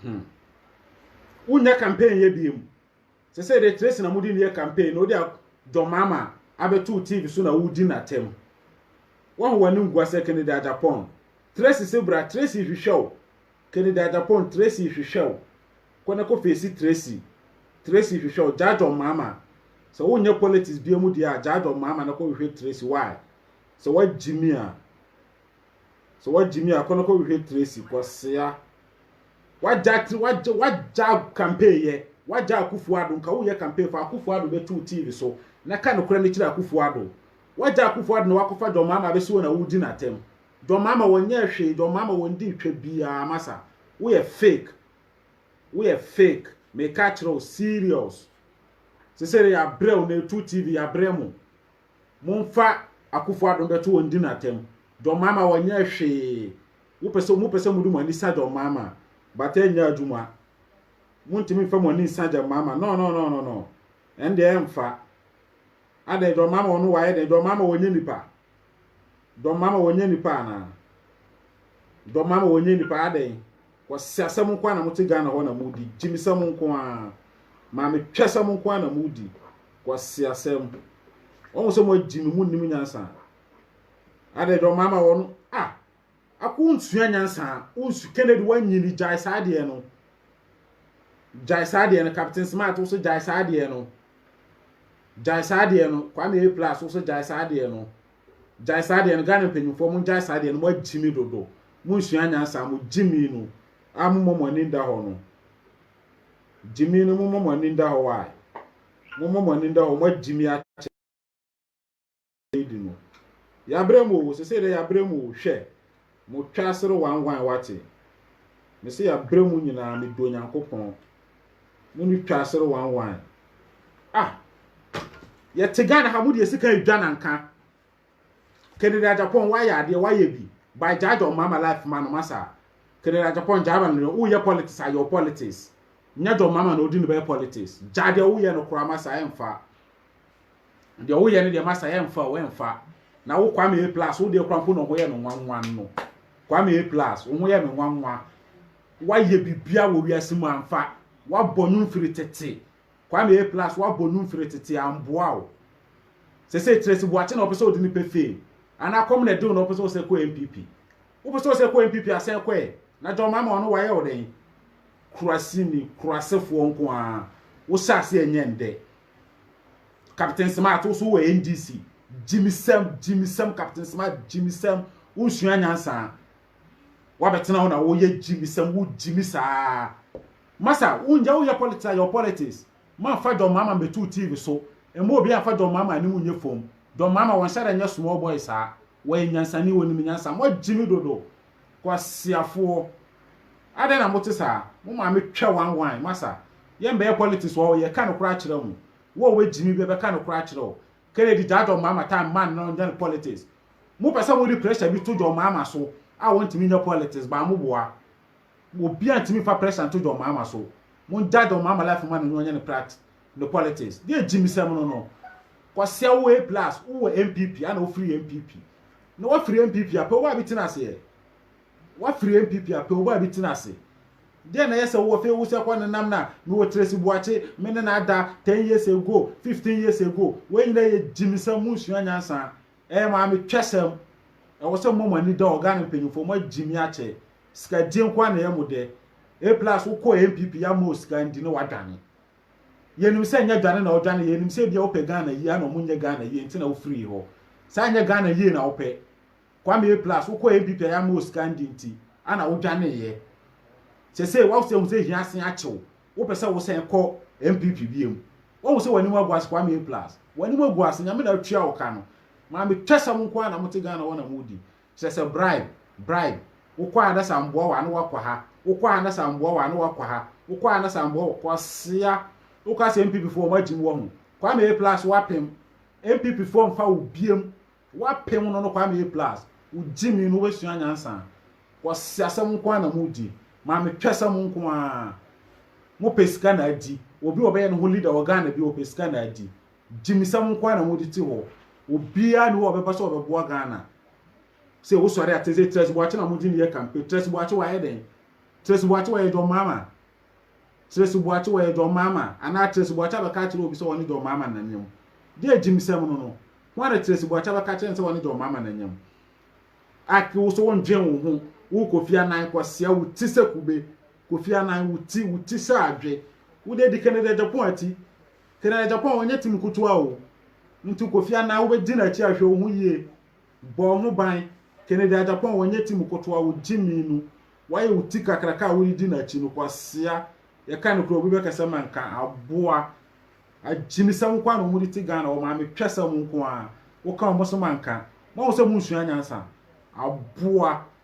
Hmm. Wonyɛ campaign yɛ biem. Sɛ sɛ de Tracy na mudi ne yɛ campaign na odi a John Mama abɛto TV so na wudi n'atam. Wahu w'ani ngua sɛ Kennedy Agyapong. Tracy se bra, Tracy hwehwɛ wo. Kennedy Agyapong, Tracy hwehwɛ wo. Kɔ na kɔ face Tracy. Tracy hwehwɛ wo. Gyaa John Mama. Sɛ wonyɛ politics biem deɛ a, gyaa John Mama na kɔ hwehwɛ Tracy. Why? Sɛ wagyimi a, sɛ wagyimi a, kɔ na kɔ hwehwɛ Tracy. Kɔsea. Wagya tiri wagya wagya campaign yɛ wagya Akufo Addo nka woyɛ campaign fa Akufo Addo bɛto wo TV so na ka nokorɛ no kyerɛ Akufo Addo wagya Akufo Addo na wakɔfa John Mahama abɛsi hɔ na woredi no atɛm John Mahama wɔnyɛɛ hwee John Mahama wɔndii twa biaa masa woyɛ fake woyɛ fake meka akyerɛ wo serious sesere yɛabrɛ wo na ɛtu TV yɛabrɛ mo. Momfa Akuffo Addo mbɛto wɔn di no atɛm. John Mahama wɔnyɛɛ hwee. Wo pɛ sɛ, mo pɛ sɛ mode mo ani sa John Mahama a, but ɛnyɛ adwuma. Montumi mfa mo ani nsa John Mahama, no no no no no. Ɛndeɛ ɛmfa. Adɛn John Mahama ɔno wayɛ dɛn? John Mahama wɔnyɛ nipa? John Mahama wɔnyɛ nipa anaa? John Mahama wɔnyɛ nipa adɛn? Kwaseasɛm nko ara na mote Ghana hɔ na modi. Gyimisɛm nko ara. Maame twɛsɛm nko ara na modi. Kwaseasɛm. Wɔn sɛ mo agyi me mo nnim nyansa. Adɛ dɔn maama wɔn a ako nsua nyansa. Wonsu Kennedy wanyini gyae saa deɛ no. Gyae saa deɛ no Captain Smart wo sɛ gyae saa deɛ no. Gyae saa deɛ no Kwame A plus wo sɛ gyae saa deɛ no. Gyae saa deɛ no Ghana mpanyinfoɔ mo gyae saa deɛ no mo agyimi dodo mo nsua nyansa mo gyimi no a mo mɔ mo ani nda hɔ no gyimi no mo mɔ mo ani nda hɔ wae mo mɔ mo ani nda hɔ mo agyimi akyɛ di no yabrɛ mu o sese dɛ yabrɛ mu o hwɛ Mo twa asere wanwan wate. Me se ya bere mu nyinaa me dɔ Nyankopɔn. Mo ne twa asere wanwan. Ah! Yɛ te Ghana ha mo deɛ sika edwa na nka. Kennedy Agyapong wa yɛ adeɛ wa yɛ bi. By gyaagya ɔmama life ma no ma saa. Kennedy Agyapong gyaa ma no wo yɛ politics a yɛ politics. Nya gya ɔmama na odi ne bɛyɛ politics. Gyaa deɛ wo yɛ no kora ma saa ɛnfa. Deɛ woyɛ no deɛ masa yɛmfa o ɛmfa na wo Kwame A plus wodeɛ kora mpo na ɔho yɛ me nwanwa no Kwame A plus wo ho yɛ me nwanwa woayɛ bibia wɔ wiase mu amfa woabɔ nnwom firi tete Kwame A plus woabɔ nnwom firi tete amboa o sese Tracy Boakye na ɔpɛ sɛ ɔde ne pɛ fame anaa kɔm na ɛdew na ɔpɛ sɛ ɔsɛ kɔ NPP wopɛ sɛ ɔsɛ kɔ NPP asɛ kɔɛ na John Mahama ɔno wayɛ wo dɛn kurasini kurasefoɔ nko ara wohyɛ ase ɛnyɛ ndɛ Captain Smart wo so wɔ NDC gyimisɛm gyimisɛm Captain Smart gyimisɛm wonsua nyansa wabɛtena hɔ na woyɛ gyimisɛm wo gyimi saa masa wonyɛ woyɛ politics a your politics mamfa John Mahama mbɛtu TV so ɛma obi amfa John Mahama anim nyɛ fam John Mahama wɔnhyɛ dɛ nyɛ small boy saa Wɔyɛ nyansani, wɔnim nyansa. Moagye me dodo. Kwasiafoɔ. Adɛn na mote saa? Mo maame twa one one. Masa, yɛmbɛyɛ politics wɔ ha o, yɛreka nokorɛ akyerɛ mo. Wo a woagye me bi, yɛbɛka nokorɛ akyerɛ wo. Kennedy gyaa John Mahama time ma no nyɛ no politics. Mopɛ sɛ mode pressure bi to John Mahama so a wɔntumi nyɛ politics, but moboa. Obiara ntumi mfa pressure nto John Mahama so. Mongyae John Mahama life ma no nyɛ ɔnyɛ ne practice. no politics deɛ gyimsɛm no no kɔsɛ wo a plus wowɔ npp ana wofiri npp na wafiri npp apɛ wo a bi tena aseɛ wafiri npp apɛ wo a bi tena ase deɛ na yɛ sɛ wowɔ fei wo sɛ kɔ nenam na mewɔ Tracy Boakye me ne na ada 10 years ago 15 years ago wei nyina yɛ gyimsɛm mu nsua nyansa ɛyɛ maame twɛsɛm ɛwɔ sɛ mmɔ mo ani da ɔga no mpanyimfoɔ mo agyimi akyɛ sika die nko a na ɛyɛ mo dɛ a plus wokɔ npp yɛ ama osika ndi na wadwane Yɛnim sɛ nyɛ dwane na wodwane, yɛnim sɛ ebia wopɛ Ghana yie, ana ɔmo nyɛ Ghana yie nti na wofirii hɔ? Sɛ anyɛ Ghana yie na wopɛ, Kwame, plus wokɔɔ NPP a yɛamma wo sika ndi nti, ana wodwaneeɛ? Sesei wahu sɛ ahu sɛ hia asen akye wo, wopɛ sɛ wosan kɔ NPP biom? Wahu sɛ w'anim agu ase, Kwame, plus w'anim agu ase, Nyame na atua wo ka no. Maame twɛsɛm nko ara na mote Ghana hɔ na modi. Kyerɛ sɛ bribe, bribe, wokɔ ha na sɛ amboa wo a na woakɔ ha, wokɔ ha na sɛ amboa wo a na woakɔ ha, wokɔ ha na sɛ amboa wo, kwasea, woka sɛ NPP foɔ wɔn agyim wɔ ho, Kwame A plus woapem, NPP foɔ mfa wo biam, woapem no no Kwame A plus, wo gyimi no wobɛsua nyansa, kwasea asɛm nko ara na mo di, maame twɛsɛm nko ara, mo pɛ sika na adi, obi a ɔbɛyɛ ne ho leader wɔ Ghana bio ɔpɛ sika na adi, Gyimisɛm nko ara na mode te hɔ. Obiara nni hɔ a ɔbɛba sɛ ɔbɛboa Ghana. Sɛ wosɔre a, te sɛ Trɛsi Boakye na mode no yɛ campaign. Trɛsi Boakye wayɛ dɛn? Trɛsi Boakye ɔyɛ John Mahama? Trɛsi Boakye ɔyɛ John Mahama? Anaa Trɛsi Boakye abɛka akyerɛ obi sɛ ɔne John Mahama nnanyam? Deɛ gyimisɛm no no, hwan na Trɛsi Boakye abɛka akyerɛ no sɛ ɔne John Mahama nnanyam? Ak, wo so wondwen wo ho. Wo Kofi Annan kwasea, wo ti sɛ kube. Kofi Annan, wo ti, wo ti sɛ adwe. Wode adi Kennedy Agyapong ati. Kena Agyapong ɔnyɛ tim nkotoa o, nti Kofi Anaa wobɛdi n'akyi a hwɛ wo ho yie, bɔ wo ho ban, Kennedy Agyapong ɔnyɛ tim nkotoa o, gyimii no, wayɛ wo ti kakraka a woredi n'akyi no, kwasea, yɛka nokorɛ obi bɛka sɛ manka, aboa, agyimisɛm nko ara na wɔde te Ghana, wɔn maame twɛsɛm nko ara, woka wɔn so manka, moahu sɛ monsua nyansa, aboa.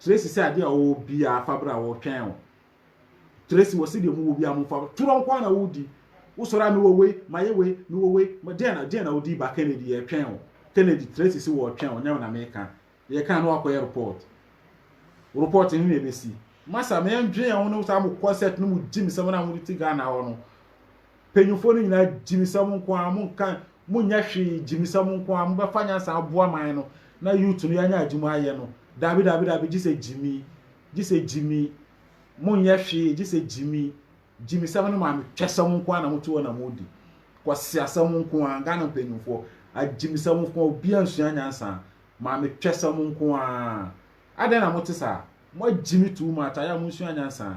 Tracy sɛ adeɛ a wɔwɔ biara fa bra wɔtwɛn wo Tracy wɔ sɛdeɛ mu wɔ biara mo fa torɔ nko na wodi wosɔre a mewɔ wei mayɛ wei mewɔ wei deɛ na deɛ na wodi ba Kennedy yɛtwɛn wo Kennedy Tracy sɛ wɔtwɛn wo nyɛ na meka yɛka na wakɔyɛ report report ne na ɛbɛsi masa meyɛ ndwen yɛn ho no saa mo kɔ set no mo gyim sɛ mo na mo ti Ghana hɔ no Mpanyinfoɔ no nyinaa gyimisɛm nko ara monka monyɛ hwee gyimisɛm nko ara mobɛfa nyansa aboa man no na youth no yɛanya adwuma ayɛ no daabi daabi daabi gye sɛ gyimi gye sɛ gyimi monyɛ hwee gye sɛ gyimi gyimisɛm no maame twɛsɛm nko ara na moto hɔ na modi kwasi asɛm nko ara Ghana mpanyinfoɔ agyimisɛm nko ara obi ansua nyansa maame twɛsɛm nko ara adɛn na mote saa moagyimi too much ayɛ a monsua nyansa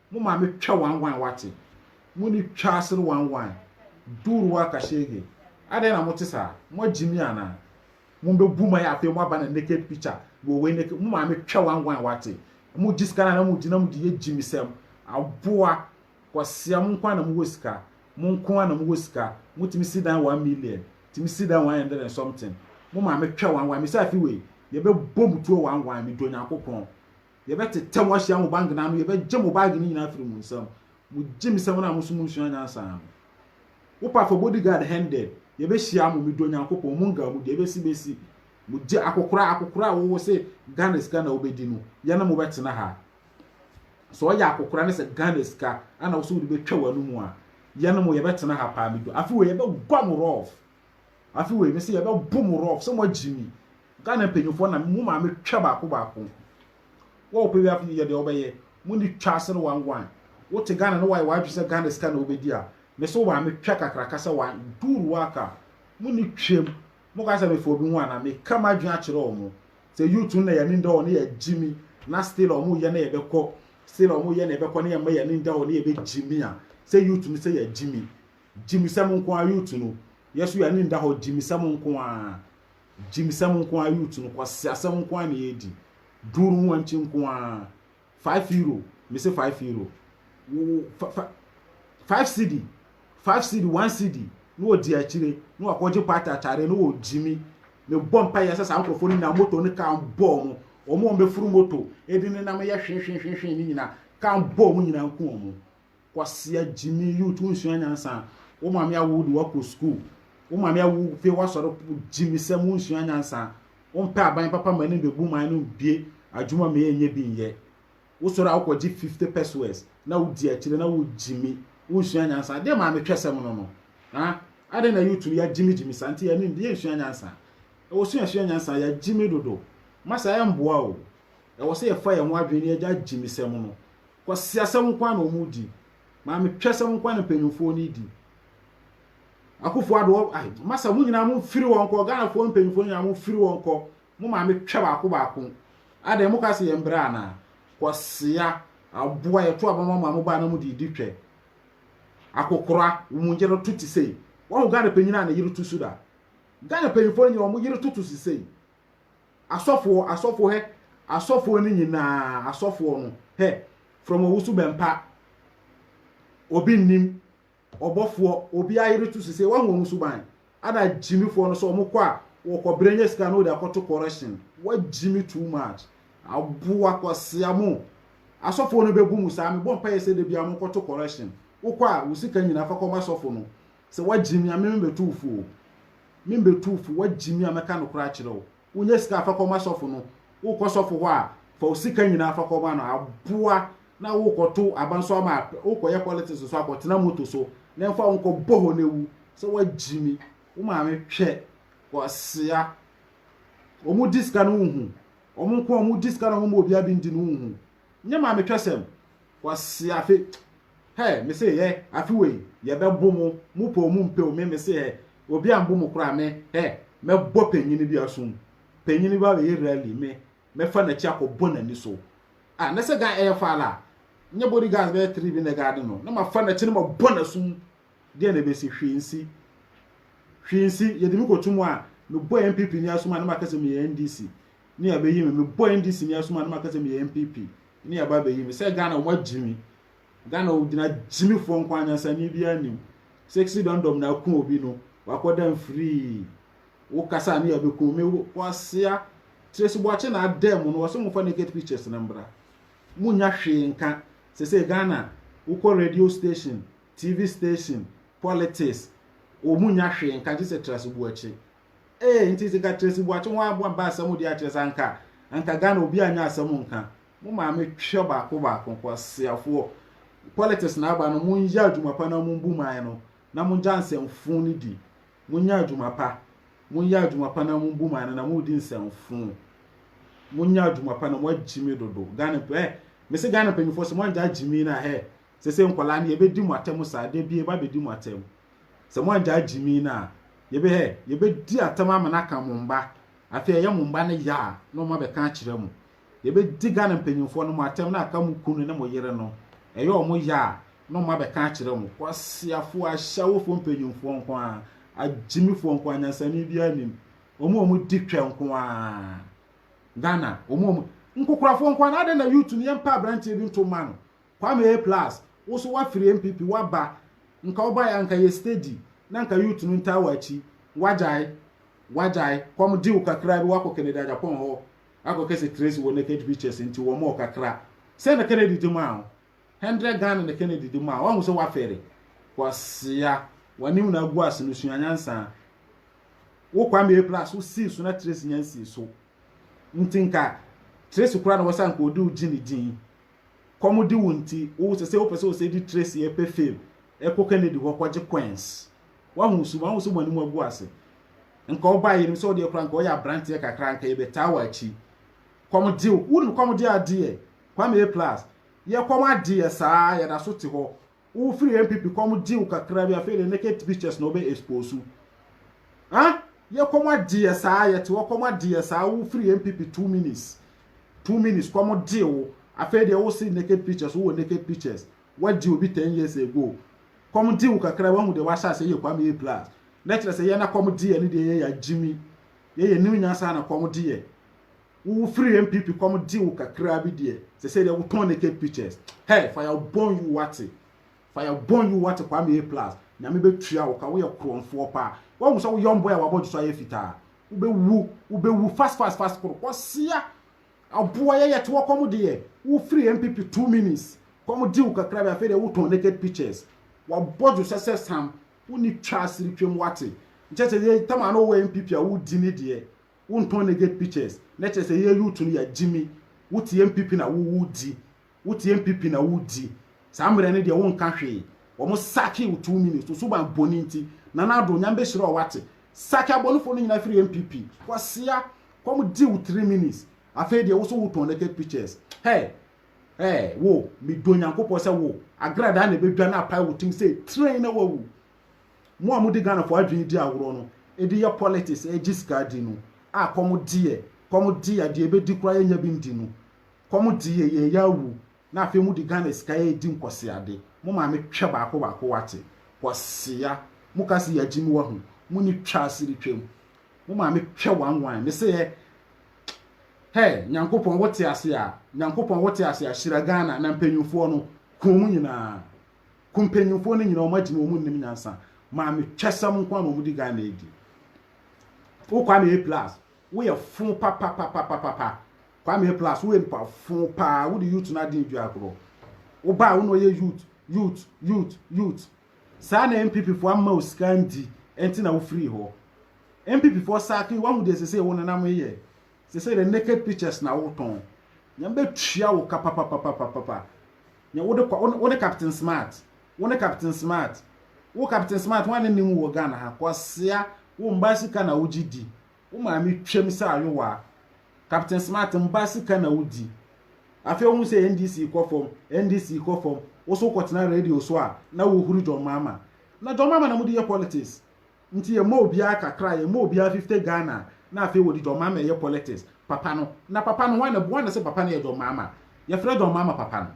Mo maame twa wanwan wate. Mo ni twa asere wanwan. Dur wa kashege. Adɛn na mote saa? Moagye mi anaa? Mo bɛ bu ma yɛ afei mo aba na naked picture wɔ wei naked mo maame twa wanwan wate. Mo gye sika na na mo gye na mo gye yɛ gyimisɛm. Aboa. Kwasia mo nkoa na mo wɔ sika. Mo nkoa na mo wɔ sika. Mo tumi si dan one million. Tumi si dan one hundred and something. Mo maame twa wanwan. Misa fi wei. Yɛ bɛ bɔ mo tuo wanwan. Me dɔ Nyankopɔn. Yɛbɛtetɛ mo ahyia mo bangena ano, yɛbɛgye mo baage no nyinaa afiri mo nsam. Mogye me sɛ wɔn a moso monsua nyansa no. Wo pa fa bodyguard hɛn dɛ, yɛbɛhyia mo, medɔ Nyankopɔn, monga mu, deɛ ɛbɛsi bɛsi. Mogye akokoraa, akokoraa a wo se Ghana sika na wobɛdi no, yɛne mo bɛtena ha. Sɛ ɔyɛ akokoraa ne sɛ Ghana sika ɛna wo se wode bɛtwa w'anomu a, yɛne mo yɛbɛtena ha paa, medɔ. Afe wei yɛbɛgua mo rough. Afe wei mese yɛbɛbo mo rough sɛ moagye mi. Ghana mpanyinfoɔ na mo maame twa baako baako. Wo a wopɛ wi afe yi yɛ deɛ wobɛyɛ. Monni twa ase no wangwan. Wote Ghana na wayɛ w'adwene sɛ Ghana sika na wobɛdi a, mese wo maame twa kakraka sɛ wa do ruaka. Monni twam. Moka sɛ mefa obi ho anaa? Meka m'adwene akyerɛ wɔn. Sɛ youth no na yɛn ani nda hɔ na yɛagye mi na still a wɔreyɛ na yɛbɛkɔ, still a wɔreyɛ na yɛbɛkɔ na yɛmma yɛn ani nda hɔ na yɛbɛgye mi a, sɛ youth no sɛ yɛagye mi. Gyimisɛm nko ara youth no yɛ so yɛ ani nda hɔ gyimisɛm nko ara gyimisɛm nko ara youth no kwasiasɛm nko ara na yɛ di duuru ho ankyi nko ara five euro me se five euro wo five cd five cd one cd na wɔ di akyire na wakɔ gye party atare na wɔ gyimi ne bɔ mpa yɛ sɛ saa nkorɔfoɔ no nyinaa moto ne kaa bɔɔ mo wɔn wɔn bɛfuru moto edi ne nam yɛ hwehwehwehwehwe ne nyinaa kaa bɔɔ mo nyinaa nko wɔn Kwasia gyimi youth wo nsua nyansa wo maame awo de wakɔ school wo maame awo pe wasɔre gyimi sɛm wo nsua nyansa wo mpɛ aban papa ma anim bebu man no bie adwuma ma yɛnyɛ bi nyɛ wo sɔre a wokɔ gye 50 pesos na wo di akyire na wo gyimi wo nsua nyansa deɛ maame twɛ sɛm no no ha adɛn na youth no yɛagyimi gyimi saa nti yɛnim deɛ nsua nyansa ɛwɔ sua sua nyansa yɛagyimi dodo masa ɛmboa o ɛwɔ sɛ yɛfa yɛn ho adwene ne yɛgya gyimi sɛm no Kwasiasɛm nko ara na wɔredi. Maametwasɛm nko ara na mpanyimfoɔ no redi. Akufo Addo, ai, masa mo nyinaa momfiri hɔ nkɔ. Ghanafoɔ mpanyimfoɔ nyinaa momfiri hɔ nkɔ. Mo maametwa baako baako. Adɛn, moka sɛ yɛn brɛ anaa? Kwasia, aboa, yɛto aba ma mo a mobaa na mode redi twɛ. Akokora, wo mu yere to te sei. Wahu Ghana panyin a ne yere to su da? Ghana mpanyimfoɔ no nyinaa wɔn yere toto su sei. Asɔfoɔ, asɔfoɔ hɛ, asɔfoɔ no nyinaa, asɔfoɔ no hɛ, from ɔwoso bɛmpa, obi nnim, ɔbɔfoɔ, obi ayere to sise, wahu wɔn suban, ana gyimifoɔ no sɛ wɔn kɔ a, wɔkɔ berɛ nya sika na wɔde akɔto correction, wagyimi too much, aboa kwasia mo, asɔfoɔ no bɛbu mu saa, mebɔ mpaeɛ sɛ da biara monkɔto correction, wokɔ a wo sika nyinaa fa kɔma asɔfo no, Sɛ woagye me a, me mebɛto wo fo o. Me mebɛto wo fo, woagye me a, mɛka nokorɛ akyerɛ wo. Wonya sika a, fa kɔma sɔfo no. Wokɔ sɔfo hɔ a, fa wo sika nyinaa fa kɔma no. Aboa na wokɔto aba nso ama apɛ. Wokɔyɛ politics nso a, kɔtena moto so na ɛmfa wo nkɔ bɔhɔ na wu. Sɛ woagye me, wo maame hwɛ. Kwasea. Wɔdi sika no wonhu. Wɔn nko a wɔdi sika na wɔmma obiara bi ndi no wonhu. Nyɛ ma me twɛsɛm kwasi afe hɛ mese hɛ afe wei yɛ bɛ bo mo mo pɛ omu mpɛ o me mese hɛ obi ambo mo koraa me hɛ mɛ bɔ panyini bi asum panyini bi abɛ yɛ rally me mɛ fa nakyi akɔ bɔ nani so ah nɛsɛ guy ɛyɛ faala nyɛ body guards bɛyɛ three bi nɛ guard no na ma fa nakyi no ma bɔ nasum deɛ na ɛbɛsi hwee nsi hwee nsi yɛde me kɔ tumu a me bɔ NPP ni asum a na ma kɛsɛ me yɛ NDC ne yɛbɛyi me mebɔ ndc ni asoma ne maka sɛ meyɛ npp ne yɛba abɛyi me sɛ ghana wɔn agyi me ghana gyina gyimifoɔ nko anyansani biara nim sexy dɔndɔm na ako obi no wakɔda mfirii wo kasa ne yɛbɛku me kwasea tracy boakye na adɛ mu no wɔsɛ mofa naked pictures no mbra monya hwee nka sɛ sɛ ghana wokɔ radio station tv station politics wɔn mu nya hwee nka gye sɛ tracy boakye Ee nti dze ka Tracy Boakye ho aboa mba asɛm dze akyerɛ sɛ anka anka Ghana obi annyɛ asɛm nka. Mo maame twɛ baako baako, kwaseafoɔ. Politics na aba no monyɛ adwuma pa na mombu man no na mongya nsɛmfoo no di. Monyɛ adwuma pa, monyɛ adwuma pa na mombu man no na moredi nsɛmfoo. Monyɛ adwuma pa na moagyimi dodo. Ghana mp eh mese Ghana mpanyinfoɔ sɛ moanngyaa gyimii no a hɛ Sese nkwadaa no yɛbɛdi mo atɛm saa da bi yɛba bɛdi mo atɛm sɛ mo angyaa gyimii no a yɛbɛ hɛ yɛbɛdi atɛm ama no aka mo mba afei ɛyɛ mo mba no ya a na ɔmo abɛka akyerɛ mo yɛbɛdi Ghana mpanyinfoɔ no mo atɛm na aka mo kunu ne mo yere no ɛyɛ ɔmo ya a na ɔmo abɛka akyerɛ mo kwasiafoɔ ahyɛwofoɔ mpanyinfoɔ nko ara agyimifoɔ nko ara nyansani biara nim ɔmo a ɔmo di twɛ nko ara Ghana ɔmo a ɔmo nkokorafoɔ nko ara na adɛn na youth no yɛmpa aberanteɛ bi nto mma no Kwame A plus wo so wafiri NPP waba nka wo baeɛ a nka yɛ steady na nka youth no ntaa wo akyi wagyae wagyae kɔm dew kakra bi wakɔ Kennedy Agyapong hɔ akɔ kɛ sɛ Tracy wɔ naked pictures nti wɔ mɔɔ kakra sɛn na Kennedy de maa wo hundred Ghana na Kennedy de maa wo wahu sɛ wafɛre kwasia wanim na agu ase no sua nyansa wo Kwame A plus wo sii so na Tracy nyan sii so nti nka Tracy kora na wɔ sɛ nka ɔde wo gyi ne din Kɔm de wo nti wo sɛ sɛ wo pɛ sɛ wo sɛ di Tracy ɛpɛ fame ɛkɔ Kennedy hɔ kɔ gye coins wahu wo su wahu sɛ mo anim agu ase nka wo ba yenim sɛ wo deɛ kora nka wo yɛ abranteɛ kakra nka yɛ bɛ taa wɔ akyi kɔm de wo nim kɔm de adeɛ Kwame A plus yɛ kɔm adeɛ saa yɛ da so te hɔ Wo firi NPP kɔm gye wo kakra bi afei de naked pictures na ɔbɛ expose wo. Huh? Yɛ kɔm agye yɛ saa yɛ te hɔ kɔm agye yɛ saa wo firi NPP two minutes two minutes kɔm gye wo afei deɛ wo se naked pictures wo wɔ naked pictures wagye obi ten years ago kɔm gye wo kakra wahu deɛ wahyɛ aseɛ yɛ Kwame A plus na kyerɛ sɛ yɛ na kɔm gye yɛ ne deɛ yɛ yɛ agyimi yɛ yɛ new nyansa na kɔm gye yɛ. wo wo firi NPP kɔ mo gye wo kakraa bi deɛ sɛsɛ deɛ wotɔn naked pictures hey fire burn you wate fire burn you wate Kwame A plus nyame bɛtua wo ka woyɛ korɔmfoɔ paa wahu sɛ wo young boy a wabɔ dwo so ayɛ fitaa wobɛwu wobɛwu fast fast fast koro kɔsia aboa yɛyɛ te wɔkɔ mo deɛ wo firi NPP two minutes kɔ mo gye wo kakraa bi afei deɛ wotɔn naked pictures wabɔ dwo sɛ sɛ sam wo ni twa asiri twam wate nkyɛ sɛ yɛ tam ano wɔ NPP a wodi ne deɛ Wo ntɔn naked pictures na kyerɛ sɛ yɛ youth no yɛ gyimi. Wo te NPP na wo wo di. Wo te NPP na wo di. Saa mmerɛ no deɛ wo nka hwee. Wɔn sacking wo two minutes to suban bɔne nti. Nana Addo, Nyame bɛ hyira wo wate. Sack abɔnefoɔ no nyinaa firi NPP. Kwasea, kɔm di wo three minutes. Afei deɛ wo so wo tɔn naked pictures. Hey! Hey! Wo, me dɔ Nyankopɔn sɛ wo, agradaa na ɛbɛ dwane apae wo tim sɛ train na wa wu. Mo a mode Ghana fo adwene di agorɔ no de yɛ politics regye sika di no a kɔm deɛ kɔm deɛ deɛ ɛbɛdi koraa yɛnya bi ndi no kɔm deɛ yɛn yɛ awu na afei mode Ghana sika redi nkɔseade mo maame twɛ baako baako wate kɔsea mo ka se yɛagye mu wahu mo ni twa asiri twam mo maame twɛ one one me se yɛ hɛ nyankopɔn wote ase a nyankopɔn wote ase a hyira Ghana na mpanyinfoɔ no kɔn mu nyinaa Ku mpanyimfoɔ no nyina wɔn agyina wɔn nnim nyansa maame twɛsɛm nko a na wɔn di Ghana adi wo Kwame A plus woyɛ fo papapapapapa Kwame A plus woyɛ nipa fo paa wode youth no aden dua korɔ wobaa wo na ɔyɛ youth youth youth youth saa na MPP foɔ amma wo sika ndi ɛnti na wofiri hɔ MPP foɔ saaki wahu deɛ sese wo nenam yɛ sese the naked pictures na wotɔn nyame bɛtua wo ka papapapapapa Nea wode kɔ, wo ne Captain Smart, wo ne Captain Smart, wo Captain Smart, hwan ne nim wo wɔ Ghana ha, kwasea, wo mmaa sika na wogye di, wo maame twam sɛ ayowaa, Captain Smart, mmaa sika na wodi. Afei wohu sɛ NDC kɔ fam, NDC kɔ fam, wo so wokɔtena radio so a na wohuru John Mahama. Na John Mahama na mode yɛ politics. nti yɛ ma obiara kakra yɛ ma obiara fifty Ghana na afei wɔde John Mahama ɛyɛ politics papa no na papa no wan na wan na sɛ papa no yɛ John Mahama yɛfrɛ John Mahama papa no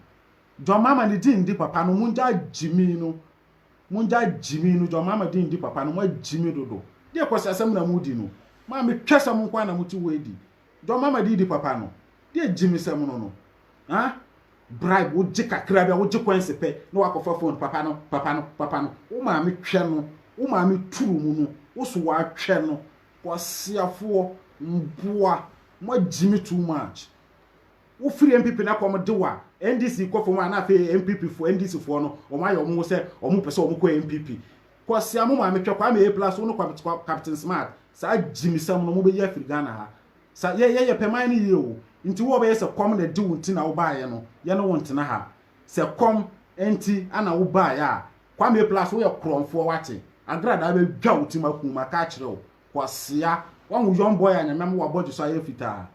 John Mahama ne din ndi papa no mongya gyimi no mongya gyimi no John Mahama din ndi papa no mo agyimi dodo deɛ kwasi asɛm na mo di no maa me twɛ sɛ mo nko ara na mo ti wɔ edi dɔm ama didi papa no de agyimisɛm no no ah bribe wo gye kakra bi a wo gye kwansi pɛ na wakɔ fa phone papa no papa no papa no wo maame twɛ no wo maame turu mu no wo so wa twɛ no kwasiafoɔ mboa mo agyimi too much wo firi MPP na kɔm de wa NDC kɔ fam a na afei MPP foɔ NDC foɔ no wɔn ayɛ wɔn ho sɛ wɔn pɛ sɛ wɔn kɔ MPP Kwasea mo maame twɛ Kwame A plus wo ne Kwame Captain Smart saa gyimisɛm no mo bɛyi afiri Ghana ha sa yɛ yɛyɛ pɛ man no yie o nti wo a ɔbɛyɛ sɛ kɔm na ɛde wo nti na wo baayɛ no yɛ ne wo ntena ha sɛ kɔm nti ana wo baayɛ a Kwame A plus wo yɛ korɔmfoɔ wate agradaa bɛ dwa wo ti ma kum maka akyerɛ wo Kwasea wahu young boy a nyame ama wabɔdwe so ayɛ fitaa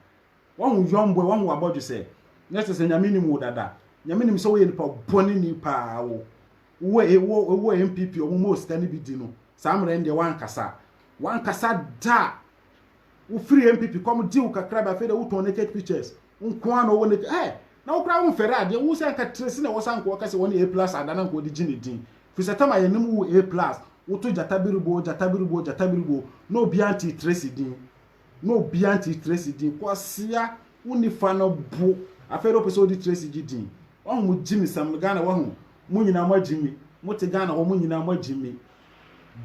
wahu young boy wahu wabɔdwe sɛ nyɛ sɛ sɛ nyame nim wo dada nyame nim sɛ wo yɛ nipa bɔne ni paa wo. wowɔ e wo wowɔ npp ɔmo ma osika no bi di no saa mmerɛ no deɛ wankasa wankasa da wofiri npp kɔm gye wo kakra bi afei deɛ wotɔn naked pictures nko ara na ɔwɔ naked ɛɛ na wo koraa womfɛre adeɛ wo sɛ anka tiresi na ɛwɔ sɛ anka wɔka sɛ wɔne a plus ada na anka wɔde gye ne din firi sɛ tam a yɛnem wo a plus woto gyata biribo gyata biribo gyata biribo na obiara ntee tiresi din na obiara ntee tiresi din kwasia wonni fa no bo afei deɛ wopɛ sɛ wode tiresi gye din wahu mo gye ne sɛm no ghana wahu Mo nyinaa mo agye me. Mo te Ghana hɔ mo nyinaa mo agye me.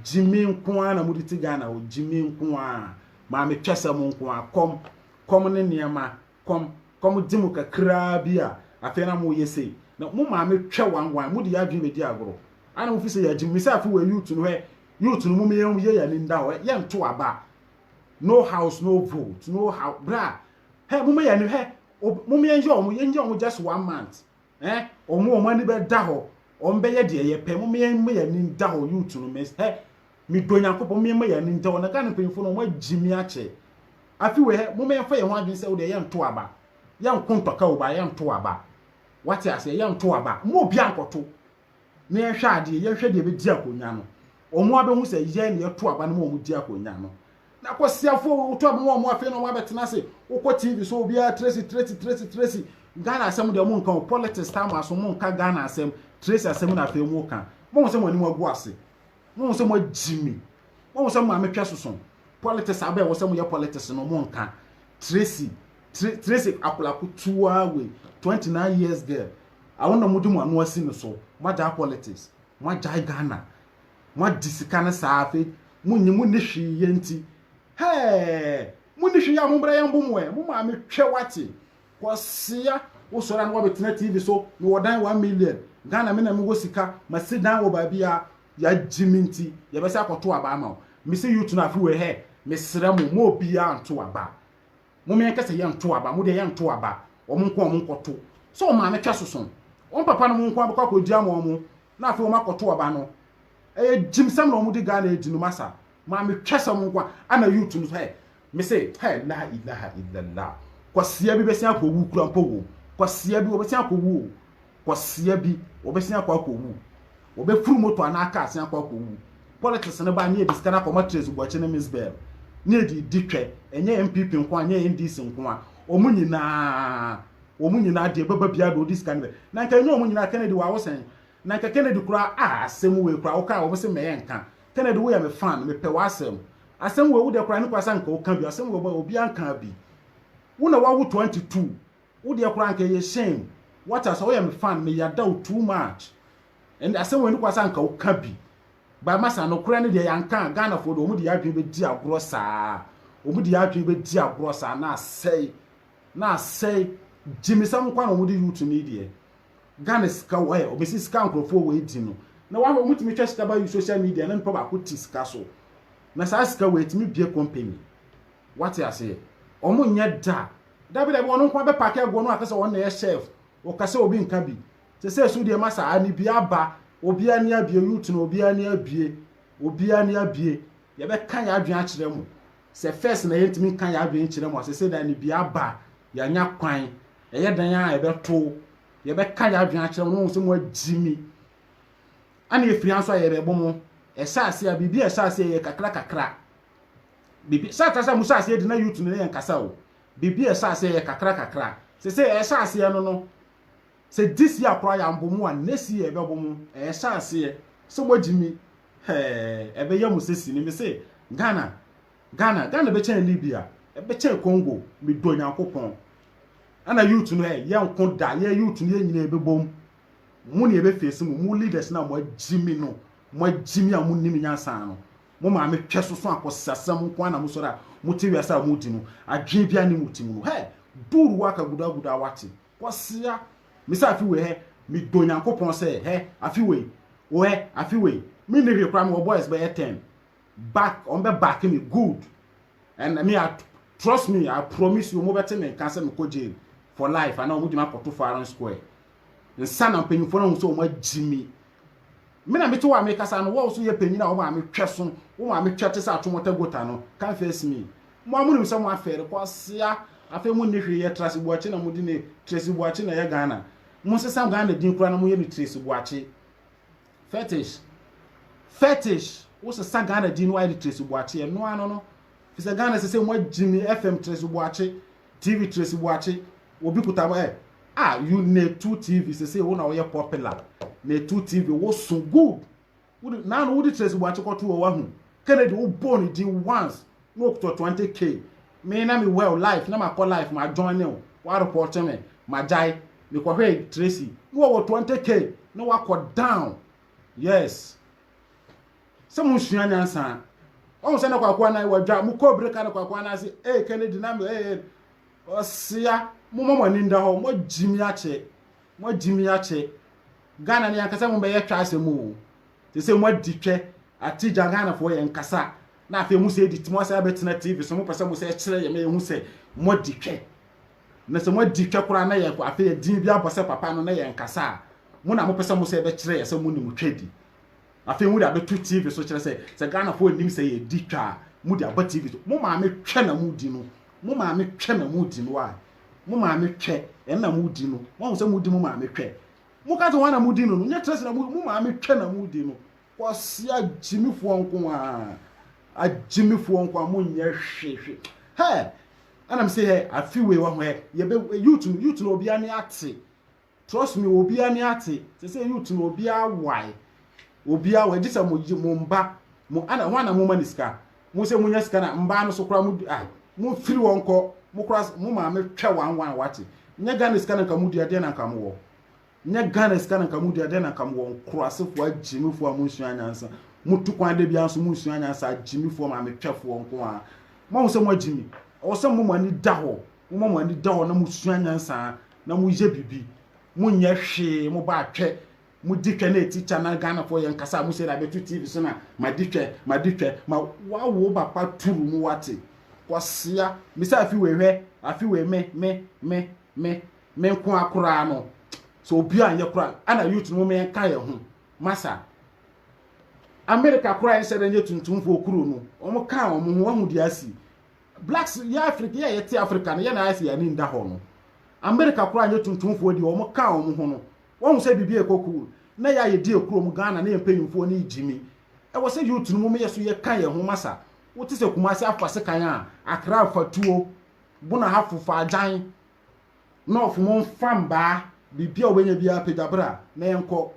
Gye me nko ara na mo de te Ghana hɔ. Gye me nko ara. Maame twɛsɛ mo nko ara. Kɔm, kɔm ne nneɛma. Kɔm, kɔm gye mo kakraa bi a, afei na mo yɛ sei. Na mo maame twɛ wan wan. Mo de yɛ adwene bɛ di agorɔ. Ana mo fi sɛ yɛ agye mo. Me sɛ afe wei youth no hɛ, youth no mo me yɛ yɛ yɛ ani nda hɔ. Yɛ nto aba. No house no vote. No house, bra. Hɛ mo me yɛ ani hɛ, mo me yɛ yɛ ɔmo, yɛ yɛ ɔmo just one month. Eh wɔn wɔn ani bɛ da hɔ wɔn bɛyɛ deɛ yɛ pɛ mo yɛn mo yɛn ani da hɔ youth no mɛ hɛ mi do nyankopɔ mo yɛn mo yɛn ani da hɔ na Ghana mpanyinfoɔ no wɔn agyi mi akyɛ afi wɔ hɛ mo yɛn fa yɛn ho adwene sɛ o deɛ yɛn nto aba yɛn nko ntɔka o ba yɛn nto aba wate aseɛ yɛn nto aba mo obi ankɔto na yɛnhwɛ adeɛ, yɛnhwɛ deɛ ɛbɛdi akonnwa no, wɔn abɛhu sɛ yɛn na yɛto aba no ma wɔn di akonnwa no. Na kwasiafoɔ wei woto aba ma wɔn afei na wɔn abɛtena ase. Wokɔ TV so obiara Tracy Tracy Tracy Tracy. Ghana asɛm deɛ mo nka o, politics tam aso mo nka Ghana asɛm, Tracy asɛm na afei mo ka. Mo ho sɛ mo anim agu ase. Mo ho sɛ mo agyi mi. Mo ho sɛ mo maame twɛ soso. Politics abɛn wɔ sɛ mo yɛ politics no mo nka. Tracy Tracy akwadaa kutuwa wei 29 years girl. Awon na mode mo ano asi no so moagyae politics moagyae Ghana moadi sika no saa afei monye monni hwee yɛ nti hɛɛ monni hwee yɛ a mombrɛ yɛ mbo mo ɛ mo maame twɛ wate Kwasea wosɔre a na woabɛtena TV so mewɔ dan one million Ghana me na mewɔ sika masi dan wɔ baabi a yɛagye me nti yɛbɛsɛ akɔto aba ama wo mese youth no afe wei hɛ mesrɛ mo ma obiaa nto aba mom yɛnkɛ sɛ yɛn to aba mo deɛ yɛn to aba wɔn nko wɔn nkɔ to sɛ ɔmaame twɛ soso wɔn papa no mo nko abɛkɔ akɔ gya ma wɔn na afei wɔn akɔ to aba no ɛyɛ gyim sɛm na wɔn de Ghana edi no masa maame twɛ sɛ wɔn nko ana youth no hɛ mese hɛ la ilaha illallah kwasia bi bɛsi akɔ wu kura mpo wo kwasia bi wɔbɛsi akɔ wu o kwasia bi wɔbɛsi akɔ akɔ wu Wɔbɛforo moto anaa kaa asen akɔ akɔwu. Politics no ba ne yɛde sika no akɔma Tracy Boakye ne Miss Bell ne yɛde redi twɛ. Ɛnyɛ NPP nko ara, ɛnyɛ NDC nko ara, wɔn nyinaa, wɔn nyinaa deɛ ɛbɛba biara deɛ wɔde sika no bɛ. Na nka ɛnyɛ wɔn nyinaa, Kennedy wɔ awosɛn. Na nka Kennedy koraa, ah asɛm wei koraa, wo kaa wɔn se mɛyɛ nka. Kennedy woyɛ me fan, mepɛ w'asɛm. Asɛm wei wo deɛ koraa ne koraa sɛ anka wo ka bi, asɛm wei obiara nkaa bi. Wo na wawo 22, Wo deɛ koraa anka ɛyɛ shame what a sɛ woyɛ me fan me yada wo too much ɛnde asɛm wei no koraa sɛ anka wo ka bi but masa nokorɛ no deɛ yɛ anka a Ghana foɔ deɛ wɔn de yɛ adwene bɛdi agorɔ saa wɔn de yɛ adwene bɛdi agorɔ saa na asɛe na asɛe gyimisɛm nkwa na wɔn de youth ni deɛ Ghana sika wɔ ɛ wɔbɛsi sika nkorɔfoɔ wɔ edi no na wɔn wɔn tumi twɛ sika ba yi social media na nipa baako ti sika so na saa sika wɔ ɛtumi bie company. Wate aseɛ? Ɔmo nyɛ da. Dabi dabi ɔno nkoa bɛpake agu hɔ no akasɛ ɔno na ɛyɛ chef. Ɔkasɛ obi nka bi. Sesei so deɛ ma saa ani bi aba. Obiaa ani abie youth no obiaa ani abie. Obiaa ani abie. Yɛbɛka yɛn adwene akyerɛ mo. Sɛ first na yɛntumi nka yɛn adwene nkyerɛ mo a sesei deɛ ani bi aba. Yɛanya kwan. Ɛyɛ dɛn a ɛbɛto. Yɛbɛka yɛn adwene akyerɛ mo na moahu sɛ moagye mi. Ɛna efiri ha nso a yɛrebɛbo mo. Ɛhyɛ aseɛ a biribi a ɛhyɛ aseɛ yɛ kakra kakra. Biribi sɛ sɛ mo hyɛ aseɛ di na youth no ne yɛn kasa o. Biribi a ɛhyɛ aseɛ yɛ kakra kakra. Sɛ sɛ ɛhyɛ aseɛ no no, sɛ this year koraa yɛ ambo mo a, next year ɛbɛbo mo. Ɛhyɛ aseɛ. Sɛ mo agyi mi, hɛɛ, ɛbɛyɛ mo sɛ sini. Me se, Ghana, Ghana, Ghana bɛkyɛn Libya, ɛbɛkyɛn Congo, me dɔ Nyankopɔn. Ɛna youth no, hey, yɛn ko da, yɛn youth no yɛn nyina ɛbɛbom. Mo ne ɛbɛfesi mo, mo leaders no a mo agyi mi no, mo agyi mi a mo nni mi nyansa no, Mo maame twɛ soso akɔsasam nko ara na mo sɔre a mo te wiase a mo di no adwene bia ne mo ti mu no hɛ dur waka guda guda awate kɔsea me sɛ afi wei hɛ me dɔ nyankopɔn sɛ hɛ afi wei o hɛ afi wei me ne hwɛ kora me wɔ boys bɛyɛ ten back ɔn bɛ back me good and me a trust me I promise you mo bɛ te me nka sɛ me kɔ jail for life ana ɔmo gyina kɔto firing square nsa na mpanyinfoɔ no ho sɛ ɔmo agyi me Me na mete hɔ a mekasa no, wo a wo so yɛ panyin a wo maame twɛ so, wo maame twɛ te sɛ atwomɔtɛ gota no, confess me. Mo ara monim sɛ moafɛre, kwasea, afei monni hwee yɛ, Trase Boakye na modi ne Tracy Boakye na ɛyɛ Ghana. Monsesa Ghana din koraa na monyɛ no Tracy Boakye. Fetish. Fetish. Wosesa Ghana din no ayɛ no Tracy Boakye, ɛno ara no no. Fisɛ Ghana sɛ sɛ moagyimi FM Tracy Boakye, TV Tracy Boakye obi kuta mo eh ah you na etu TV sese wo na woyɛ popular na etu TV wo so good wode na no wode Tracy Boakye kɔto wɔ wahu Kennedy wo bɔ ne din once na okuta 20k me na me well life na makɔ life ma join ne wa report me ma gyae me kɔhwɛ Tracy na wɔ 20k na wakɔ down yes Sɛ mo nsua nyansa. Ɔhu sɛ na kwakoa nan wɔ dwa. Mo kɔ bere ka no kwakoa nan se, ee Kennedy na me ee. Ɔsea, mo ma mo ani nda hɔ. Mo agyi mi akyɛ. Mo agyi mi akyɛ. Ghana ne ankasa mo bɛyɛ twɛ asɛm o. Te sɛ mo adi twɛ. Ate gya Ghana foɔ yɛ nkasa. Na afei mo sɛ edi ti mo asɛ abɛtena TV so mo pɛ sɛ mo sɛ kyerɛ yɛ ma yɛ hu sɛ mo adi twɛ. Na sɛ mo adi twɛ koraa na yɛ afei yɛ din bi abɔ sɛ papa no na yɛ nkasa a mo na mo pɛ sɛ mo sɛ bɛkyerɛ yɛ sɛ mo nim twɛ di. Afei mode abɛto TV so kyerɛ sɛ sɛ Ghanafoɔ nnim sɛ yɛdi twa a mode aba TV so. Mo maame twɛ na modi no. Mo maame twɛ na modi no a. Mo maame twɛ ɛna modi no. Moahu sɛ modi mo maame twɛ. Moka sɛ wɔn na modi no no, nyɛ kyerɛ sɛ na modi, mo maame twɛ na modi no. Kwasi agyimifoɔ nko ara. Agyimifoɔ nko ara, monyɛ hwe hwe. Hɛ! Ɛna me se hɛ, afi wei wahu hɛ, yɛbɛ, youth no, youth no obiara ani ate. Trust me obi ani ate sese youth no obi awae obi awae gye sɛ mo mo mba mo ana ho ana mo ma ne sika mo sɛ mo nya sika na mba no so kora mo ah mo firi wɔn kɔ mo kora mo maame twɛ wan wan wate nyɛ Ghana sika na nka mo dua deɛ na nka mo wɔ nyɛ Ghana sika na nka mo dua deɛ na nka mo wɔ nkorasefo agyimifoɔ a mo nsua nyansa mo tu kwan de bia nso mo nsua nyansa agyimifoɔ maame twɛfoɔ nko a mo ho sɛ mo agyimi ɛwɔ sɛ mo mo ani da hɔ Momma mo ani da hɔ na musua nyansa na moyɛ biribi. Monyɛ hwee, mobɔ atwɛ, modi twɛ na ɛti kya na Ghanafoɔ yɛn kasa a mo sei na abɛto TV so na madi twɛ, madi twɛ. Ma woawo wo papa turu mu woate. Kwasea, me sɛ afi wei hwɛ, afi wei me, me, me, me, me nko ara koraa no, sɛ obi a nyɛ koraa, ana youth no momma yɛn ka yɛn ho. Masa, America koraa yɛn hyɛ da nyɛ tuntumfoɔ kuro no, wɔn ka wɔn ho, wahu deɛ asi. Blacks yɛ Africa yɛ a yɛte Africa no yɛ na ayɛ sɛ yɛn ani nda hɔ no America koraa nyɛ tuntumfoɔ deɛ wɔn kaa wɔn ho no wahu sɛ biribi ɛkɔ cool na yɛ a yɛdi akuro mu Ghana ne yɛn mpanyinfoɔ ne gyimi ɛwɔ sɛ youth no mom yɛ so yɛ ka yɛn ho masa wote sɛ Kumasi afa sekan a Accra afa tuo Bona hafo fa agyan North mo nfa mbaa biribi a wobɛnya biara pagya bra na yɛn kɔ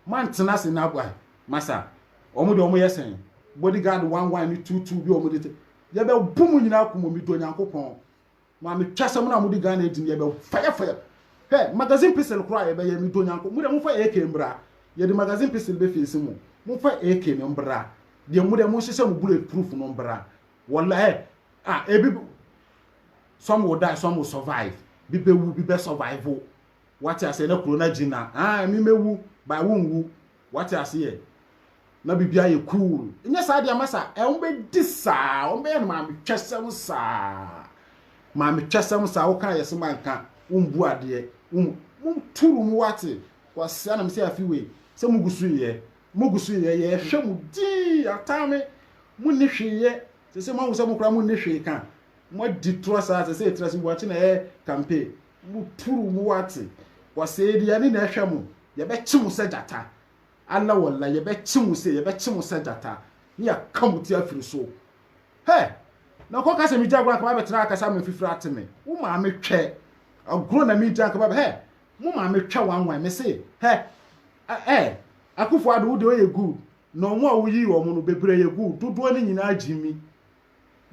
moantena ase na masa wɔn deɛ wɔn yɛ sɛn body guard one one ne two two bi a wɔn de te Yɛbɛbo mo nyinaa ako mmom medɔ Nyankopɔn. Maame twasɛm no a mode Ghana adi no yɛbɛ fire fire. Hɛ magazine pistol koraa a yɛbɛyɛ medɔ Nyankopɔn. Modeɛ momfa AK mbra yɛde magazine pistol bɛ face mo. Momfa AK no mbra deɛ modeɛ monhyehyɛ mo bullet proof no mbra. Wallah hɛ ah ebi some will die some will survive bi bɛwu bi bɛ survive wate aseɛ na kuro no agyina ah ɛme mɛwu by wonwu. Wate aseɛ? Na biribi ayɛ cool. Nyɛ saa deɛ ama saa. Ɛ wɔn bɛdi saa. Wɔn bɛyɛ no maame twɛsɛm saa. Maame twɛsɛm saa. Woka yɛ se manka. Wombu adeɛ. Wom mo turu mu wate. Kwasia na mesɛ afi wei. Sɛ mo gu so yɛ. Mo gu so yɛ. Yɛhwɛ mo dii. Ataa me. Mo nni hwee yɛ. Sɛ sɛ moahu sɛ mo koraa mo nni hwee ka. Moadi torɔ saa. Sɛ sɛ ɛtiri ase buakye na ɛyɛ campaign. Mo puru mo wate wɔsɛ aduane na ɛhwɛ mo yɛbɛkye mo sɛ gyata Allah wallah yɛbɛkye mo se yɛbɛkye mo sɛ gyata ne yɛaka mo ti afiri so hɛ na nkɔ ka sɛ me gya agorɔ anka mabɛtena ha kasa ama mfifiri ate me wo maame twɛ agorɔ na me gya anka mabɛ hɛ mo maame twɛ wanwan me se hɛ ɛ akufo ado wo deɛ ɔyɛ good na ɔmo a woyii ɔmo no bebree yɛ good dodoɔ no nyinaa gyimi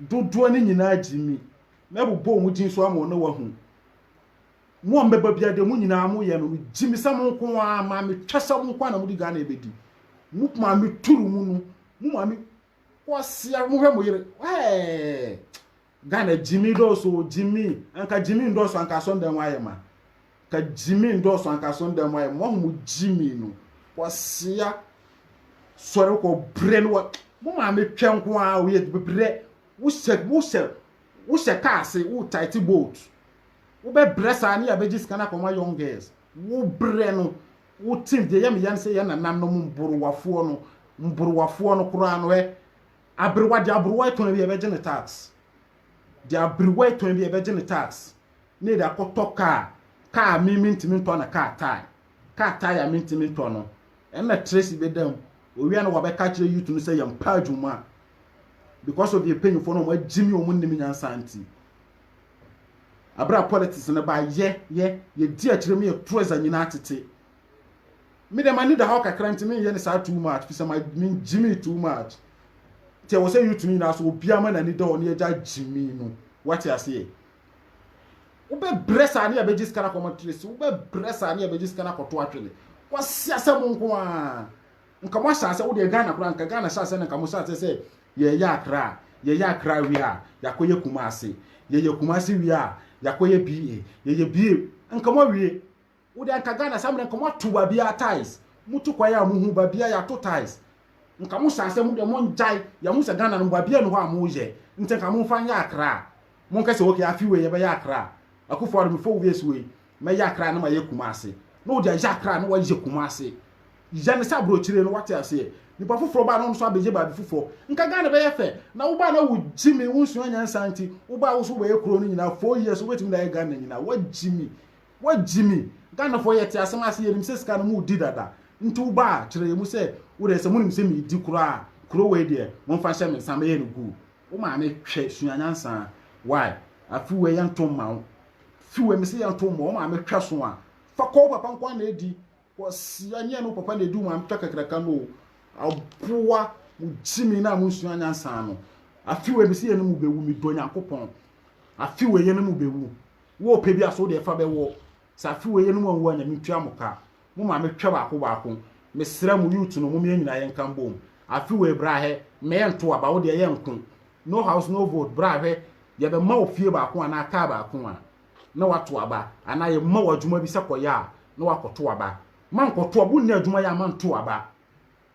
dodoɔ no nyinaa gyimi, mɛbobɔ wɔn din so ama wɔn na wɔahu. Mo a mbɛba biara deɛ mo nyinaa moyɛ no, megyimi sɛ mo nko ara, maa metwa sɛ mo nko ara na mode Ghana ɛbɛdi. Mo maa me turu mu no, mo maa me kwasia, mohwɛ mo yere, ɛɛ, Ghana gyimi dɔɔso, gyimi, anka gyimi ndɔɔso anka asɔndɛn hɔ ayɛ ma. Ka gyimi ndɔɔso ankaso nda mu ayɛ mo ɔho mo gyimi no wɔsea sɔre kɔ brɛ no wɔ mo maame twɛ nko ara o yɛ brɛ wohyɛ wohyɛ wohyɛ kaa ase wo tight boat wobɛ brɛ saa ne yɛabɛgye sika no akɔma young girls wo brɛ no wo team deɛ yɛ me yɛ no sɛ yɛ nananom mborowafoɔ no mborowafoɔ no koraa no ɛ aberewa deɛ aberewa tɔn bi yɛbɛgye ne tax deɛ aberewa tɔn bi yɛbɛgye ne tax na yɛde akɔtɔ kaa, kaa a me mentumi ntɔ no kaa tae, kaa tae a mentumi ntɔ no, ɛnna Tracy bɛda mu, owie a na wabɛka akyerɛ youth no sɛ yɛmpa adwuma because of yɛn mpanyimfoɔ no wɔagye me wɔn nnim nyansa nti. Abere a politics no ba yɛ yɛ yɛdi akyire mu yɛto ɛza nyinaa tete. Me deɛ m'ani da hɔ kakra nti menyɛ no saa too much fisɛ mengye me too much. Nti ɛwɔ sɛ youth no nyinaa so obiara ma n'ani da hɔ na yɛgya gye me no wate aseɛ. wobɛbrɛ saa ne abɛgye sika no akɔma tracy wobɛbrɛ saa ne abɛgye sika no akɔto atwene kwasi asɛ mo nko a nka mo ahyɛ asɛ wodeɛ ghana koraa nka ghana hyɛ asɛ no nka mo hyɛ asɛ sɛ yɛyɛ akra a yɛyɛ akra wie a yɛakɔyɛ kuma ase yɛyɛ kuma ase wie a yɛakɔyɛ ba yɛyɛ ba nka mo awie Wo deɛ anka Ghana saa mmerɛ nka moato baabiara tiles. Motu kwan a mohu baabiara yɛato tiles. Nka mo saa sɛ mo deɛ mongyae, yɛahu sɛ Ghana no baabiara nni hɔ a moyɛ nti nka momfa nyɛ Accra. Monka sɛ ok afe wei yɛbɛyɛ Accra. Akuffo Addo me four years wei mɛyɛ Accra na mayɛ Kumasi. Na wode ayɛ Accra na woayɛ Kumasi. Yɛ no sɛ aborɔkyire no woate aseɛ. Nipa foforɔ baa na ɔno nso abɛyɛ baabi foforɔ. Nka Ghana bɛyɛ fɛ. Na wobaa na wo gyimi wonsua nyansa nti wobaa wo nso wobɛyɛ kuro no nyinaa four years wobɛtumi de ayɛ Ghana nyinaa. Woagyimi. Wagyi me. Ghanafoɔ yɛte asɛm ase yɛnim sɛ sika no mo redi dada nti woba a kyerɛ yɛ mu sɛ wodeɛ sɛ monim sɛ meredi koraa a kuro wei deɛ momfa nhyɛ me nsa mɛyɛ no guu wo maame hwɛ sua nyansaa wai afi wei yɛnto mma wo fi wei mese yɛnto mmɔ wo maame hwɛ so a fa kɔ wo papa nkoa na ɛdi Kwasia nyɛ no papa na edi wɔn atwa kakraka no o. Aboa mo gyimi na mo nsua nyansa no. Afi wei besi yɛ no mu bewu me dɔ Nyankopɔn. Afi wei yɛ no mu bewu. Wo pɛ bi aso de ɛfa bɛwɔ. Sɛ afi wei yɛ no mu anwu a nyame ntua mo ka. Mo maame twɛ baako baako. Me srɛ mo youth no mom yɛn nyinaa yɛn ka mbom. Afi wei bra hɛ mma yɛn nto aba wo deɛ yɛn nko. No house no vote bra hwɛ yɛ bɛ ma wo fie baako anaa car baako a na wato aba, anaa yɛma wo adwuma bi sɛ kɔyɛ a, na wakɔto aba. Mankɔto aba, wonni adwuma yɛ a manto aba.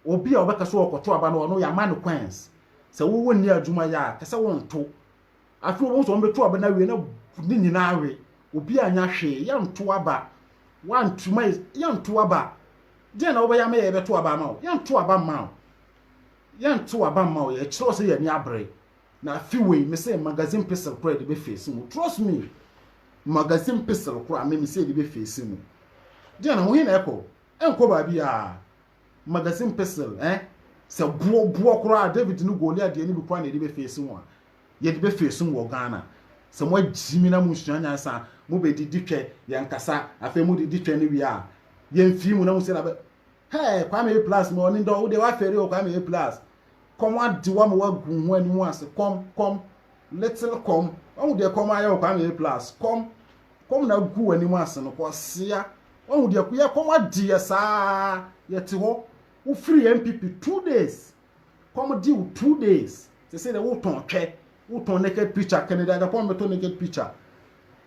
Obi a ɔbɛka sɛ ɔrekɔto aba no, ɔno yɛama no kwanz. Sɛ wo wonni adwuma yɛ a, ka sɛ wonto. Afei wɔbɛhu sɛ wɔbɛto aba no awie na ne nyinaa awe. Obi anyɛ hwee, yɛnto aba. Wanto ma yɛnto aba. Deɛn na wobɛyɛ ama yɛ yɛbɛto aba ama wo? Yɛnto aba mma wo. Yɛnto aba mma wo, ɛkyerɛ sɛ yɛn ani abere. Na afe wei me sɛ magazine pestle koro a yɛde bɛ face mu trust me magazine pestle koro a me me sɛ yɛde bɛ face mu deɛ na wohe na ɛkɔ ɛnkɔ baabi a magazine pestle eh sɛ boɔ boɔ koro a David ne Goliath deɛ ne bi koro a na yɛde bɛ face mu a yɛde bɛ face mu wɔ Ghana sɛ mo agyi mi na mo nsua nyansa mo bɛ di di twɛ yɛn kasa afei mo di di twɛ ne wie a yɛn fi mu na mo sɛ na bɛ hey Kwame A plus mo ɔne dɔ wo deɛ wafɛre o Kwame A plus Kɔm ade wo ama woagu wo ho anim ase. Kɔm, kɔm, little kɔm. Wahu deɛ kɔm ayɛ wo kwaa na ɛyɛ plus. Kɔm, kɔm na agu w'anim ase no kwasea. Wahu deɛ yɛ kɔm ade yɛ saa. Yɛte hɔ. Wofiri NPP two days. Kɔm de wo two days. Sɛsɛ deɛ wotɔn twɛ. Wotɔn naked picture. Kennedy agya kɔm bɛtɔ naked picture.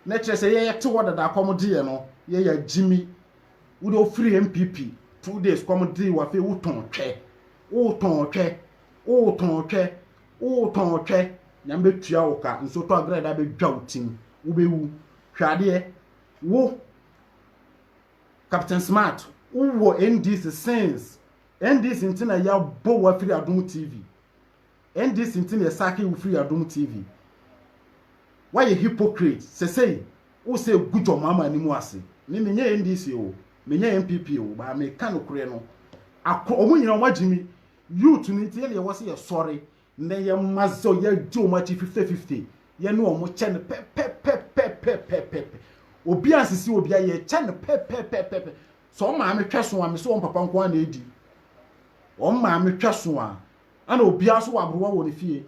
Na kyerɛ sɛ yɛ yɛte hɔ dada kɔm de yɛ no. Yɛ yɛ agyimi. Wo deɛ wofiri NPP two days kɔm de wo afei wotɔn twɛ. Wotɔn ɔtwɛ, wotɔn ɔtwɛ, wotɔn ɔtwɛ. Nyame bɛtua wo ka, nsuo tɔ aberɛ a ɛda bɛdwa wo tim, wobɛwu. Hwɛ adeɛ, wo Captain Smart, wowɔ NDC since, NDC nti na yɛabɔ wo afiri Adom TV. NDC nti na yɛsakee wo firi Adom TV. Woayɛ hypocrite. Sɛsɛi, wo sɛ gu John Mahama anim ase. Me, menyɛ NDC o, menyɛ NPP o, but meka nokorɛ no. Ako, ɔmo nyina ɔmo agye mi. Youth no nti, yɛne yɛwɔ sɛ yɛsɔre na yɛma zɔ, yɛagye ɔmo akyi fifte-fifte. Yɛne ɔmo kyɛ no pɛpɛpɛpɛpɛpɛpɛpɛ. Obia nsisi obia, yɛkyɛ no pɛpɛpɛpɛpɛ. Sɛ ɔmaame twɛso a, mese wɔn papa nko ara na edi. Wɔn maame twɛso a, Ɛna obiara nso wɔ agorowa wɔ ne fie.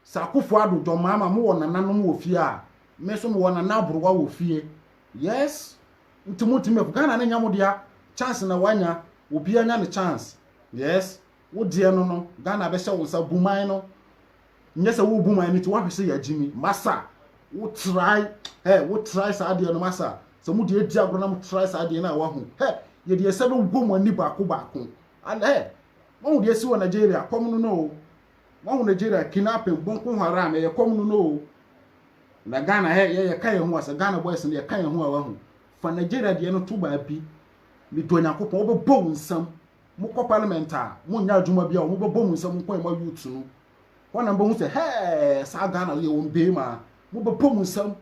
Sɛ Akuffo Addo, John Mahama mo wɔ nananom wɔ fie a, me nso me wɔ nana agorowa wɔ fie. Yes! Nti mo ntumi mɛpo. Ghana no nyɛ mo dea. Chance na wanya. Obiara nya ne chance. Yes! Wo deɛ no no, Ghana bɛhyɛ wo nsa. Bu man no. Nyɛ sɛ wo bu man no nti woahwɛ sɛ yɛagyimi. Masa! Wo try, hey, wo try saa deɛ no masa. Sɛ mo deɛ di agorɔ na mo try saa deɛ no a wahu. Hey! Yɛde yɛn nsa bɛwuo mo ani baako baako. Ala hey! Wahu deɛ asi wɔ Nigeria, kɔm no no oo, wahu Nigeria kidnapping, bonko haram, ɛyɛ kɔm no no oo, na Ghana hɛ, yɛ yɛka yɛn ho a, sɛ Ghana boys no yɛka yɛn ho a wahu, fa Nigeria deɛ no to baabi, medɔ Nyankopɔn, wobɛbɔ wo nsam, mokɔ parliament a, monyɛ adwuma biara o, mobɛbɔ mo nsam nko a ɛma youth no, hɔ na mobɛhu sɛ hɛɛ, saa Ghana no yɛwɔ mbeem a, mobɛbɔ mo nsam,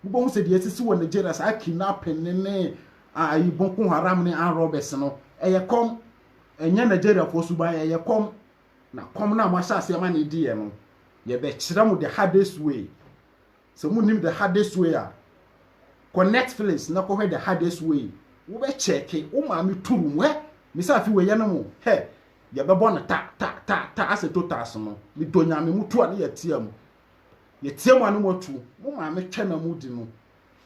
Wobɛhu sɛ deɛ asisi wɔ Nigeria, saa kidnapping ne ne ayi Boko Haram ne armed robbers no, ɛyɛ kɔm. Ɛnyɛ Nigeriafoɔ suban, ɛyɛ kɔm. Na kɔm no a moahyɛ aseɛ ma ne deɛ no, yɛbɛkyerɛ mo the hardest way. Sɛ monnim the hardest way a, kɔ Netflix na kɔhwɛ the hardest way. Wobɛkyɛke, wo maame turu mu. Hɛ, mesɛ afe wei yɛne mo, hɛ, yɛbɛbɔ no ta ta ta ta asɛ totas no. Medɔ Nyame, motu a ne yɛteam. Yɛteɛ mo anom atu, mo maame twɛ na mo di no.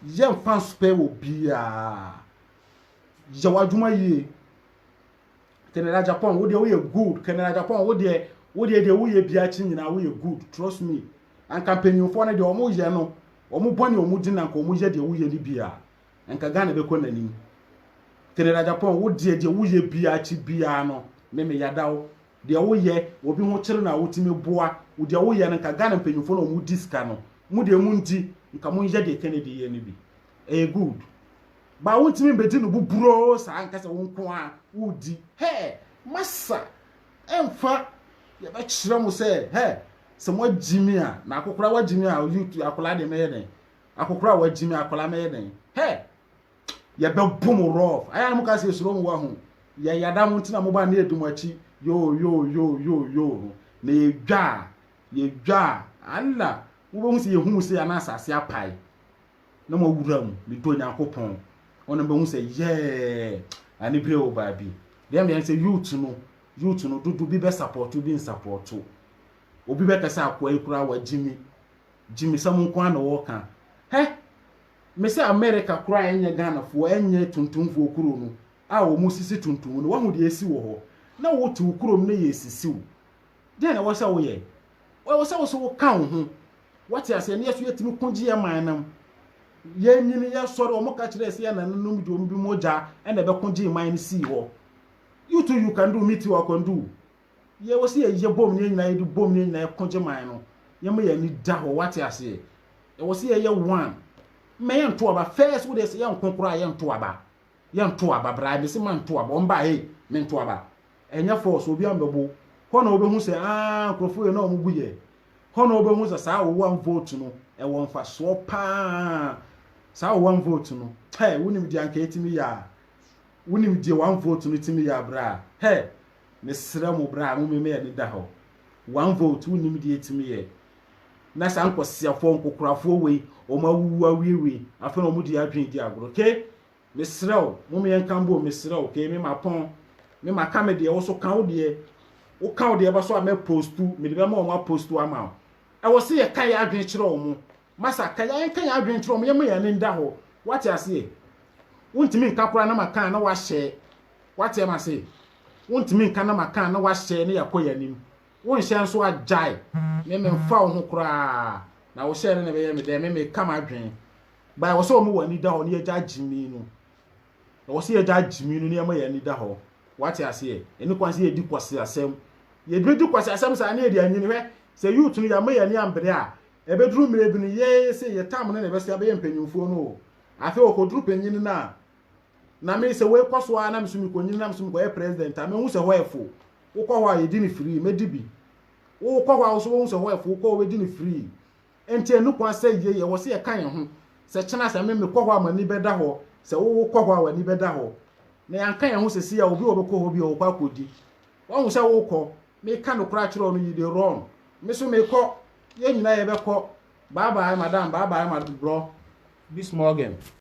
Yɛ mfa nspɛ wɔ biaa. Yɛ wadwuma yie. Canada Japan wo deɛ woyɛ good Canada Japan wo deɛ wo deɛ deɛ woyɛ bi akyi nyinaa woyɛ good trust me anka mpanyinfoɔ no deɛ wɔn yɛ no wɔn bɔ ne wɔn di na nka wɔn yɛ deɛ woyɛ no bi a nka Ghana bɛkɔ n'anim Canada Japan wo deɛ deɛ woyɛ bi akyi biara no meme yadaw deɛ woyɛ obi ho kyere no a wotumi boa wo deɛ woyɛ no nka Ghana mpanyinfoɔ no a wɔn di sika no mo deɛ mo ndi nka mo nyɛ deɛ Kennedy yɛ no bi ɛyɛ good baa wontumi mbɛdi no buburoo saa nka sɛ wo nko a wodi hɛ masa ɛmfa yɛbɛkyerɛ mo sɛ hɛ sɛ mo agyimi a na akokora wagyimi a YouTube akwadaa deɛ mɛyɛ dɛn akokora wagyimi akwadaa mɛyɛ dɛn hɛ yɛbɛbɔ mo rɔf ayɛ a na mo ka sɛ esuro mo wɔ ho yɛ yada mo ntina mo ba ne edu mo akyi yoo yoo yoo yoo yoo ho na yɛdwa a yɛdwa a ala wobɛhu sɛ yɛhu sɛ ana asase apae na mo awura mu ne dɔ nyankopɔn ɔno bɛhu sɛ yɛɛ ane bere o baabi deɛ meyɛ sɛ youth no youth no dodo bi bɛ support bi nsapɔto obi bɛka sɛ akoa yi koraa wagyimi gyimi sɛm nko a na wɔka hɛ Me sɛ America koraa ɛnyɛ Ghanafoɔ ɛnyɛ tuntumfoɔ kuro no a wɔn sisi tuntum no wahu deɛ asi wɔ hɔ na wo te wo kuro mu na yɛ sisi wo deɛ na ɛwɔ sɛ woyɛ ɛwɔ sɛ wo so wo ka wo ho wate aseɛ ne yɛ so yɛtumi ko gye yɛ man nam yɛ nyini yɛ sɔre wɔn ka kyerɛ ɛsɛ yɛ na nom gye wɔn bi mogya ɛna ɛbɛko gye man no sii hɔ you too you can do me too I can do Yɛ wɔ sɛ yɛ yɛ bom ne yɛ nyinaa yɛ de bom ne yɛ nyinaa ko gye man no yɛ ma yɛ ani da hɔ wate aseɛ yɛ wɔ sɛ yɛ yɛ one mɛ yɛ nto aba first wo de sɛ yɛ nko koraa yɛ nto aba yɛ nto aba bra mɛ sɛ ma nto aba ɔmba he mɛ nto aba ɛnyɛ force obi ambɛbo hɔ na ɔbɛhu sɛ aa nkurɔfoɔ yɛ na ɔmo gu yɛ hɔ na ɔbɛhu sɛ saa ɔwɔ one vote no ɛwɔ mfasoɔ paa saa ɔwɔ one vote no hɛ wonim deɛ anka ɛtumi yɛ a wonim deɛ one vote no tumi yɛ a bra hɛ Mesrɛ mo bra mo meme yɛne da hɔ one vote wonim deɛ ɛtumi yɛ na saa nkɔsiafoɔ nkokorafoɔ wei wɔn awuwu awiewie afei na wɔn de adwene di agorɔ ke mesrɛ wo mo me yɛnka mbom mesrɛ wo ke me ma pɔn me ma ka me deɛ wo so ka wo deɛ wo ka wo deɛ ba so a mɛ postu mede bɛma wɔn apostu ama wo ɛwɔ se yɛka yɛ adwene kyerɛ wɔn Masa, ka yɛn, ka yɛn adwene kyerɛ wɔn, yɛmma yɛn ani nda hɔ. Woate aseɛ? Wontumi nka koraa na maka a na woahyɛ. Woate ama se? Wontumi nka na maka a na woahyɛ na yɛakɔ yɛn anim. Wonhyɛ nso a, gyae. Me, memfa wo ho koraa. Na wohyɛɛ dɛ na ɛbɛyɛ me dɛn? Me, meka m'adwene. Ba, ɛwɔ sɛ wɔma wɔn ani da hɔ na yɛgyae gyimii no. Ɛwɔ sɛ yɛgyae gyimii no na yɛma yɛn ani da hɔ. Woate aseɛ? Ɛnni kwan sɛ yɛdi kwaseasɛm. Yɛbɛdi kwaseasɛm saa na yɛde anwini. Hwɛ, sɛ youth no, yɛamma yɛn ani ammbre a, Ebeduru mmerɛ bi no yɛɛ se yɛtam no na ɛbɛso abɛyɛ mpanyinfoɔ no o. Afei ɔkɔduru panyin no a, na me sɛ wei kɔso ara na me so mekɔnyini na me so mekɔyɛ president a, mahu sɛ hɔ yɛ fo. Wokɔ hɔ a yɛdi no free, mɛdi bi. Wokɔ hɔ a wo so wobɛhu sɛ hɔ yɛ fo, wokɔ wobɛdi no free. Enti ɛnni kwan sɛ yei ɛwɔ sɛ yɛka yɛn ho sɛ kyena sɛ me mekɔ hɔ a m'ani bɛda hɔ, sɛ wo wokɔ hɔ a w'ani bɛda hɔ. Na yɛanka yɛn ho sɛ sei a obi a ɔbɛkɔ hɔ bi a ɔkɔ akɔdi. Woahu sɛ wokɔ. Meka nokorɛ akyerɛ wo no you dey run me so mekɔ yɛn nyinaa yɛbɛkɔ bye bye madam bye bye ma bro bis morgen.